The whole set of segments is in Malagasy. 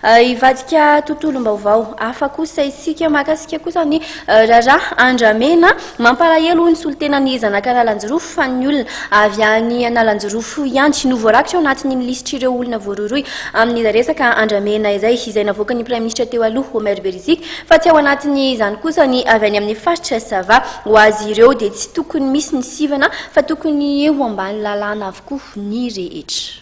Hivadika tontolom-baovao hafa kosa isika mahakasika kosa ny raharaha andramena. Mampalahelo hoy ny solontenan'ny zanak'Analanjirofo fa ny olona avy any Analanjirofo ihany no voarakitra ao anatin'iny lisitr'ireo olona voarohirohy amin'izay resaka andramena izay, izay navoakan'ny praiminisitra teo aloha Omer Beriziky fa tsy ao anatin'izany kosa ny avy any amin'ny faritra Sava. Ho azy ireo dia tsy tokony misy ny sivana fa tokony ho ambany lalàna avokoa ny rehetra.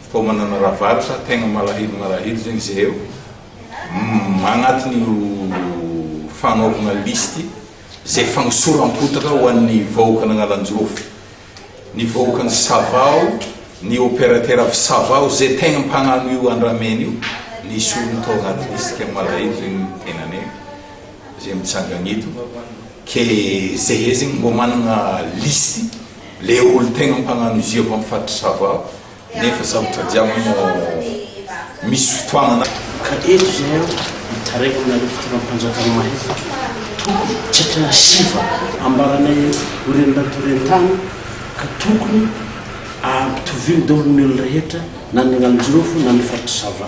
Koa manana ravalo sa tegna malahelo malahelo zegny zahay ô? Humm agnatiny io fagnaovagna listy zay fagnosoram-potaka ho an'ny vahoakan'Agnalanjirofo, ny vahoakan'i Sava ô, ny opérateur avy Sava ô, zay tegna mpagnano io andramena io, ny esoriny tao agnaty listy kay malahelo zegny ny tegnanay zay mitsangagna eto, kay zahay zegny mbô managna listy le olo tegna mpagnano izy io avy amin'ny faritry Sava ô. Nefa sarotra jiaby no misy fotoanana. Ka eto izay aho mitaraina aminareo fitondram-panjakana mahefatra, tokony tsy hatrany sivana. Ambaranay eto ho renin-dRatoren-tany ka tokony ampitoviany daholo ny olona rehetra na ny agnano jirofo na ny faritry sava.